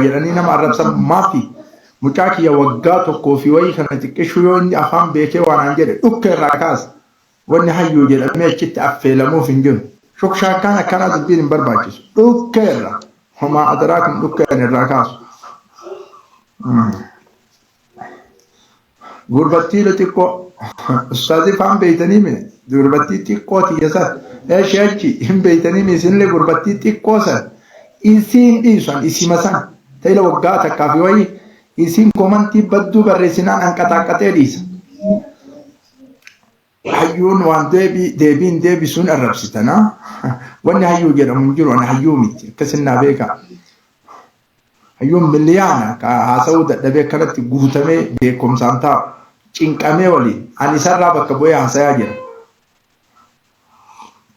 jedhanii nama arrabsan maafi mucaa kiyya waggaa tokkoo fi wayii kana xiqqishuu yoo inni afaan beekee waanaan jedhe dhukkee irraa kaasa wanni hayyuu jedhamee achitti affeelamuuf hin jiru shukshaakkaan akkanaa dubbiin hin barbaachisu dhukkee irraa homaa adaraa kun dhukkeen irraa kaasu. Gurbattii xiqqoo. Ustaazii faan beeytanii mee? Gurbattii xiqqoo tiyya san. Eshi achi hin beeytanii mee isinillee gurbattii xiqqoo san. Isiin dhiisan isima san. Ta'ila waggaa takkaa fi wayii isiin komantii badduu barreessinaan hanqataaqqatee dhiisa. Hayyuun waan deebii deebiin deebisuun arrabsitana. Wanni hayyuu jedhamu hin jiru ani hayyuu miti akkasin naa beeka. Hayyuun miliyaana ka haasa'uu dadhabee akkanatti guutamee beekumsaan taa'u cinqamee waliin ani isarraa bakka bu'ee haasayaa jira.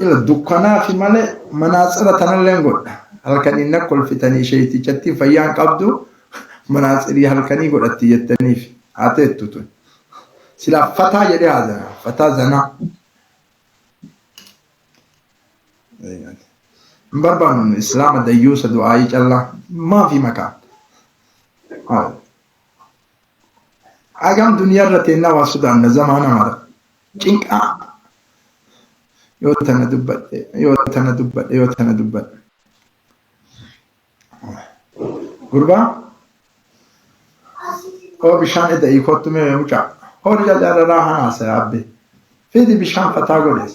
Ila dukkanaafi malee manaatsira tanalleen godha. Halkaniin na kolfitanii sheeytichattiin fayyaan qabdu manaatsirii halkanii godhatti jettaniif haa teettu tun. Silaa fataa jedhee haasaya. Fataa zanaa. Hin barbaannu islaama dayyuusa du'aayii callaa maafi makaa. Maal? Hagam duniyaa irra teennaa waa sodaanna zamaana mara. Cinqaa yoo tana dubbadhe yoo tana dubbadhe yoo tana dubbadhe. Gurbaa oo bishaan eda'ii kottu mee mucaa. Horii jajararaa hanaa sayaabbe. Fidi bishaan fataa godhees.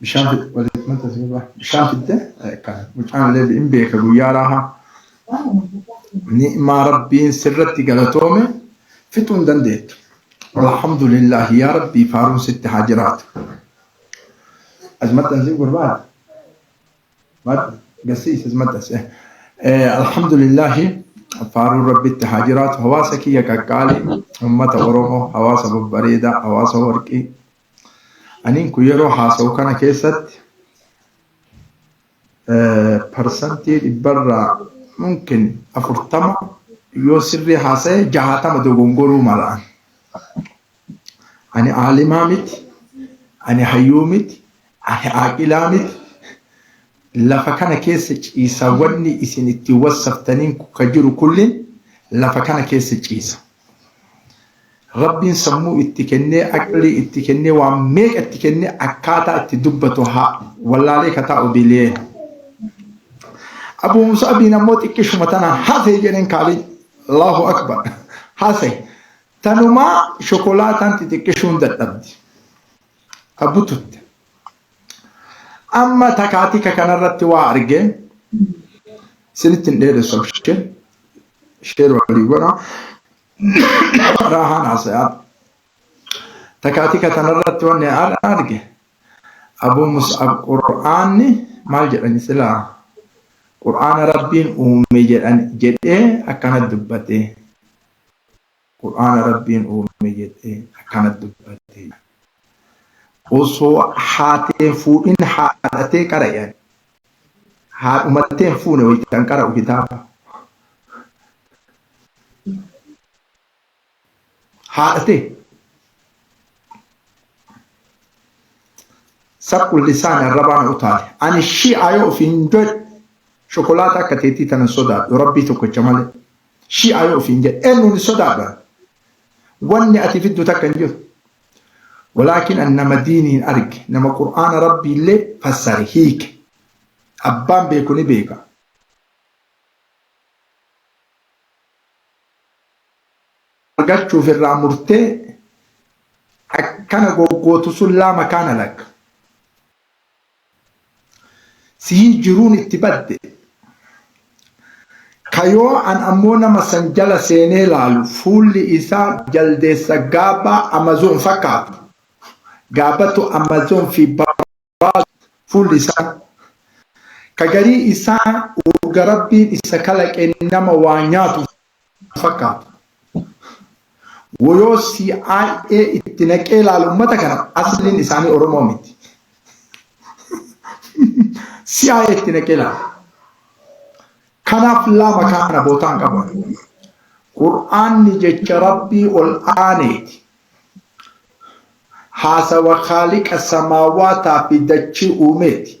bishaan fidde walitti mata sirbaa bishaan fidde kan mucaan illee hin beeka guyyaa raahaa ni'maa rabbiin sirratti galatoome fixuu hin dandeettu alhamdulillah yaa rabbii faaruun sitti haa jiraatu as maxxansii gurbaa gasiis as maxxansee alhamdulillah faaruun rabbitti haa jiraatu hawaasa kiyya qaqqaalii ummata oromoo hawaasa babbareedaa hawaasa warqii Aniin kun yeroo haasa'u kana keessatti parsantii dhibbarraa mumkin afurtama yoo sirrii haasa'e jahatama dogongoruu malaan. Ani aalimaa miti, ani hayyuu miti, ani aaqilaa miti. Lafa kana keessa ciisa wanni isin ittiin wassaftaniin ka jiru kullin lafa kana keessa ciisa. Rabbiin sammuu itti kennee aqlii itti kennee waan meeqa itti kennee akkaataa itti dubbatu haa wallaalee ka taa'u dilee. Abu Musaabiin ammoo xiqqishuma tana haasa'e jedheen kaaliin Allahu Akbar haasa'e. Tanumaa shokolaataan xixiqqishuun dadhabdi. Abu tutte. Amma takaatika kanarratti waa arge isinitti hin dheeressu abshir sheer walii godha raahaan haasayaa takaatika tanarratti wanni har'a arge abuu mus'ab qur'aanni maal jedhani silaa qur'aana rabbiin uume jedhan jedhee akkana dubbate Qur'aana Rabbiin uume jedhee akkana dubbate. Osoo haati hin fuudhin haadha tee qara'i ani. Haadhuma tee hin fuune wayitan qara'u kitaaba. Haadha tee. Saqqul lisaan arrabaa na utaale. Ani shi'aa yoo ofiin jedhe shokolaataa akka teetii tanan sodaadhu rabbii tokkicha malee. Shi'aa yoo ofiin jedhe eennuun hin sodaadha. Wanni ati fiddu takka hin jirtu. Walaakin an nama diiniin arge, nama Qur'aana Rabbiillee fassare, hiike. Abbaan beeku ni beeka. argachuuf irraa murtee akkana goggootu sun laa makaana lakka. Sihii jiruun itti badde. Ka yoo an ammoo nama san jala seenee laalu fuulli isaa jaldeessa gaabba Amazon fakkaatu. Gaabbatu Amazon fi Barbaasu fuulli isaa. Ka garii isaa urga Rabbiin isa kalaqeen nama waa nyaatu fakkaata. Woyoo CIA itti naqee laalu ummata kana asliin isaanii Oromoo miti. CIA itti naqee laalu. Kanaaf lama kaana bootaan qaban. Qur'aanni jecha Rabbii ol aaneeti. Haasawa Khaaliqa samaawaataa fi dachii uumeeti.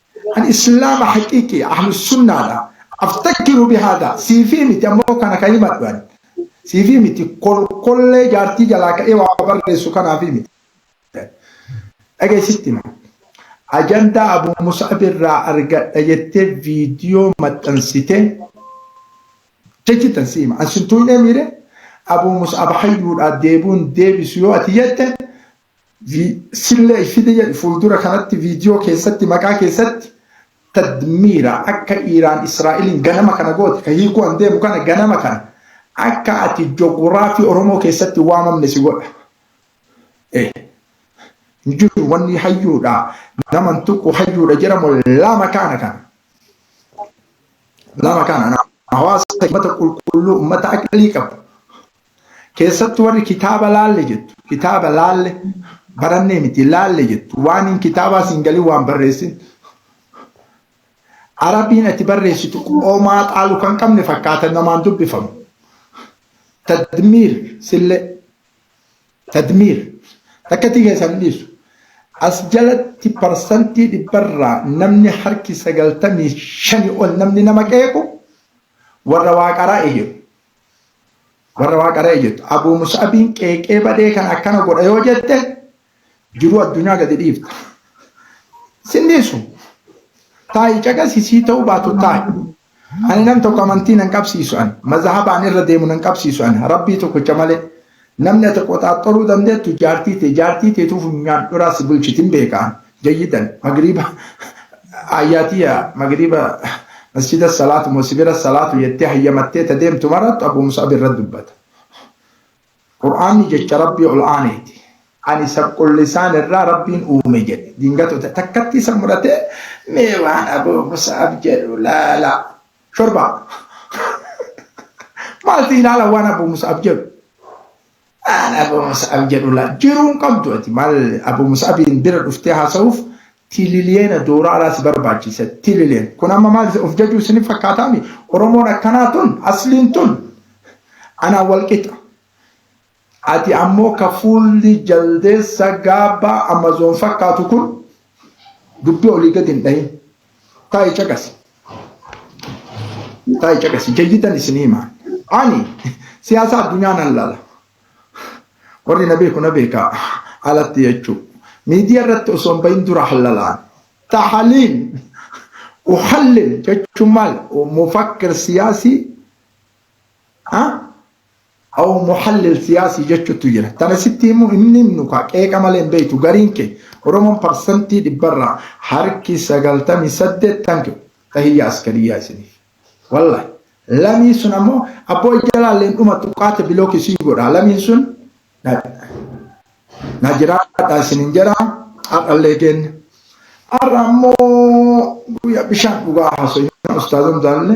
An islaama haqiiqi ahlussunnaadha aftakkiru bihaadha siifii miti ammoo kana ka himadhu ani siifii miti kolkollee jaartii jalaa ka'ee waa barreessu kanaafii miti dhagahi sitti hima ajandaa abu mus'ab irraa argadha jettee viidiyoo maxxansitee jechi tan si hima an sin tuynee miire abu mus'ab hayyuudha deebuun deebisu yoo ati jette Sille ishiti jedhi fuuldura kanatti viidiyoo keessatti maqaa keessatti tadmiira akka Iiraan Israa'eliin ganama kana goote ka hiikuu an deemu kana ganama kana akka ati joguraafii Oromoo keessatti waamamne si godha. Eh. Hin jiru wanni hayyuudha naman tuqu hayyuudha jedhamu lama kaana kana. Lama kaana hawaasa uummata qulqulluu uummata aqlii qabu Keessattu warri kitaaba laalle jettu, kitaaba laalle, barannee miti laalle jettu, waan hin kitaabaa siin galin waan barreessin. Arabiin ati barreessitu qomaa xaalu kan qabne fakkaata namaan dubbifamu. Tadmiir sillee, tadmiir, takkatti keessan hin dhiisu. As jalatti parsantii dhibbarraa namni harki sagaltamii shani ol namni nama qeequ warra waaqaraa eeyyemu. warra waaqa re'e jettu abuu musaabiin qeeqee badee kan akkana godha yoo jette jiruu addunyaa gadi dhiifta sinniisu taa'i caqasi sii ta'uu baatu taa'i ani nam tokko amantii nan qabsiisu an mazhabaan irra deemu nan qabsiisu an rabbii tokkicha malee Namni ati qoxaaxxoruu dandeettu jaartii tee, jaartii teetuu funyaan dhuraa si bulchiti hin beeka, jayyidan, magriiba aayyaa tiyya magriiba masjida salaatu moo si bira salaatu jettee hayyamattee ta deemtu marattu Abuu Mus'ab irra dubbata. Qur'aanni jecha Rabbii ol aaneeti. Ani sabqullisaan irraa Rabbiin uume jedhe. Diingatoo ta takkatti isa muratee mee waan Abuu Mus'ab jedhu laalaa. Shorbaa. Maalti ilaala waan Abu Mus'ab jedhu. Aan Abu Mus'ab jedhu laa jiruun qabdu ati maal Abu Mus'abiin bira dhuftee haasa'uuf tililiyeena dooraalaa si barbaachisa tilileen. Kun amma maal of jajuu isin fakkaataami Oromoon akkanaa tun asliin tun anaa wal qixa. Ati ammoo ka fuulli jaldeessa gaabbaa Amazon fakkaatu kun dubbii olii gad hin dhayin. Taa'i caqasi. Taa'i caqasi. Jayyidan isin hima. Ani siyaasa addunyaa nan laala. Warri na beeku na beeka alatti jechuu. Miidiyaa irratti osoo hin bahin dura hallalaan. Tahaliil. Uhallil jechuun maal? Mufakkir siyaasii Aw muhallil siyaasii jechuttu jira. Tana sitti himu hin himnu kaa qeeqa malee hin beeytu gariin kee. Oromoon parsantii dhibbarraa harki 98 thank you tahiyyaa askariyyaa isiniif. Wallahi lamiin sun ammoo abboo ijalaallee hin dhumattu qaata bilook isiin godhaa lamiin sun na jiraadha isinin jedha har'allee keenya. Har'a ammoo guyyaa bishaan dhugaa haasofna ustaazan jaalle.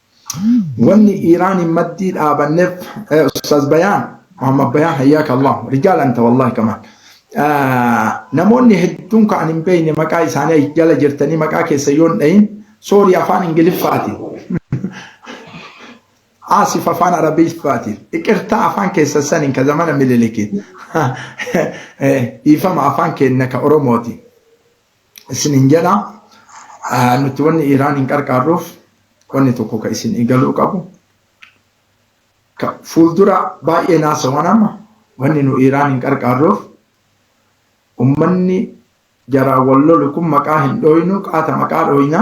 Wanni Iiraan hin maddii dhaabanneef eh, Ustaaz Bayaan, Muhammad Bayaan hayyaaka Allah, rijaal anta wallahi kamaan. Ah, Namoonni hedduun kan hin beekne maqaa isaanii achi jala jirtanii maqaa keessa yoon dhahin soorii afaan Ingiliffaatiin. Aasif afaan Arabiffaatiin. Iqirtaa afaan keessa saniin ka zamana mililikiin. Eh, Dhiifama afaan keenna ka Oromootiin. isinin jedha nuti wanni Iraan hin qarqaarruuf wanni tokko ka isin eegaluu qabu ka fuuldura baay'ee naasawan amma wanni nu Iraan hin qarqaarruuf ummanni jaraa wal lolu kun maqaa hin dhooynu qaata maqaa dhooyna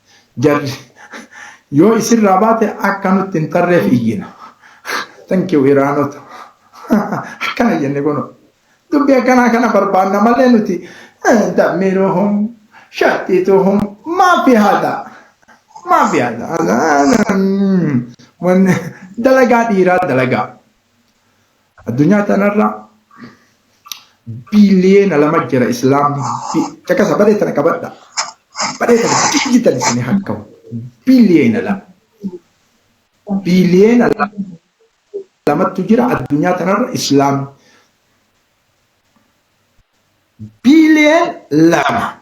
Jarri yoo isirraa baate akka nutti hin tarreef iyyina. Thank you Iraanota. Akkana jenne kuno. Dubbii akkanaa kana barbaanna malee nuti dammiruhum shaxxituhum maafi haadha. Maafi haadha. Dalagaa dhiiraa dalagaa. Addunyaa tanarra biliyeena lama jira islaamni caqasa badee tana qabadha. Badee tana digital isin hakka'u biliyeena lama. Biliyeena lamattu jira addunyaa tanarra islaamni. Billion lama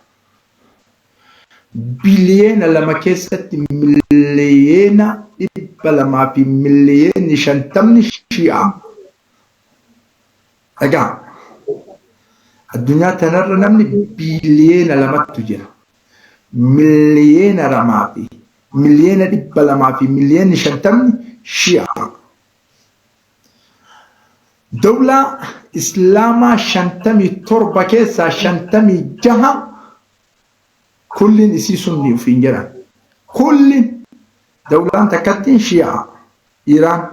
biliyeena lama keessatti miliyeena dhibba lamaa fi miliyeenni shantamni shi'aa. Dhagaa addunyaa tanarra namni biliyeena lamattu jira. Miliyeena lamaa fi miliyeena dhibba lamaa fi miliyeenni shantamni shi'aa. Dawlaa Islaamaa 57 keessaa 56 kulliin isii sunni ufiin jedhan. Kulli dawlaan takkattiin shii'a Iraan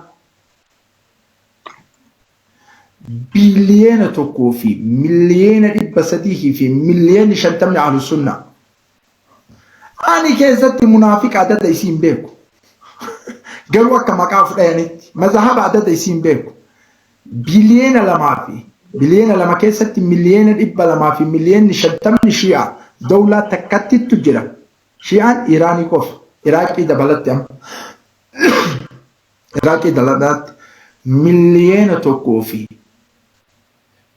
biiliyeena tokkoo fi miliyeena dhibba sadihii fi miliyeeni shantamni ahlu sunna Ani keessatti munaafiqa adada isiin beeku. Garuu akka maqaa of dhayanitti mazahaba adada isiin beeku. Biliyeena lamaa fi biliyeena lama keessatti miliyeena dhibba lamaa fi miliyeenni shantamni shii'a dawlaa takkattittu jira. Shii'aan Iiraanii qofa. Iraaqii dabalatti amma. Iraaqii dabalatti miliyeena tokkoo fi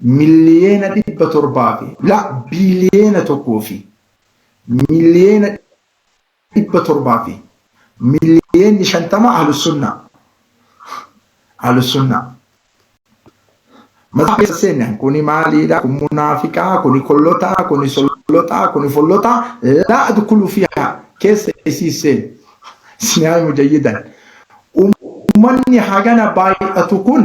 miliyeena dhibba torbaa fi la biliyeena tokkoo fi miliyeena dhibba torbaa fi miliyeenni shantama ahlusunnaa ahlusunnaa mataa keessa seenne kuni maaliidha kun munaafiqaa kuni kollotaa kuni solloxaa kuni follotaa la adkulu fiha keessa isii seenne sinaa mujayyidan ummanni hagana baay'atu kun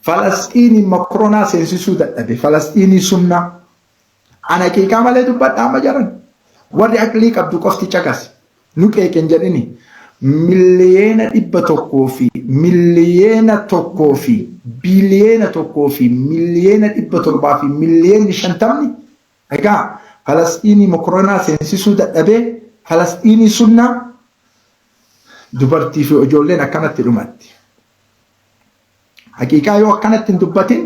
Falasxiinii makronaa seensisuu dadhabe falasxiinii sunnaa an haqiiqaa malee dubbadha amma jaran warri aqlii qabdu qofti caqasi nu qeeqen jedhini miliyeena dhibba tokkoo fi miliyeena tokkoo fi biliyeena tokkoo fi miliyeena dhibba torbaa fi miliyeenni shantamni egaa falasxiinii makronaa seensisuu dadhabee falasxiinii sunnaa dubartii fi ijoolleen akkanatti dhumatti. Haqiiqaa yoo akkanatti hin dubbatin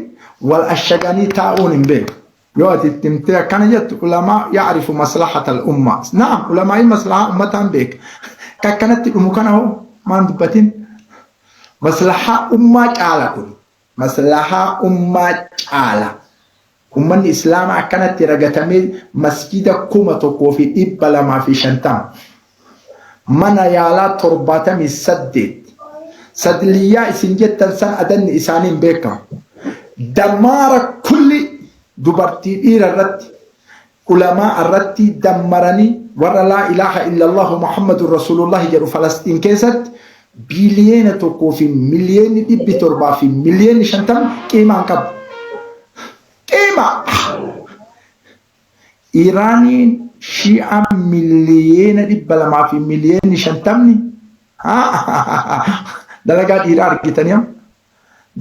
wal ashaganii taa'uun hin beeku. Yoo ati itti himtee akkana jettu ulamaa yaarifu maslahatal ummaa. Naam ulamaa'ii maslahaa ummataan beeka. Ka akkanatti dhumu kana hoo maan dubbatin? Maslahaa ummaa caala kun. Maslahaa ummaa caala. Ummanni Islaamaa akkanatti ragatamee masjiida 1250, mana yaalaa 78, sadliyyaa isin jettan san adanni isaanii hin beekamu, damaara kulli dubartii dhiira irratti, Ulamaa irratti dammaranii warra laa ilaaha illallahu Muhammadun Rasuulullahi jedhu Falasxiin keessatti biiliyeena tokkoo fi miliyeeni dhibbi torbaa fi miliyeeni shantam qiimaa hin qabu. Qiima! Iraaniin shi'aan miliyeena dhibba lamaa fi miliyeeni shantamni dalagaa dhiiraa argitanii amma.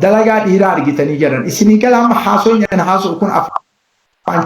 Dalagaa dhiiraa argitanii jedhan. Isinii gala amma haasoo inni haasoo kun afaan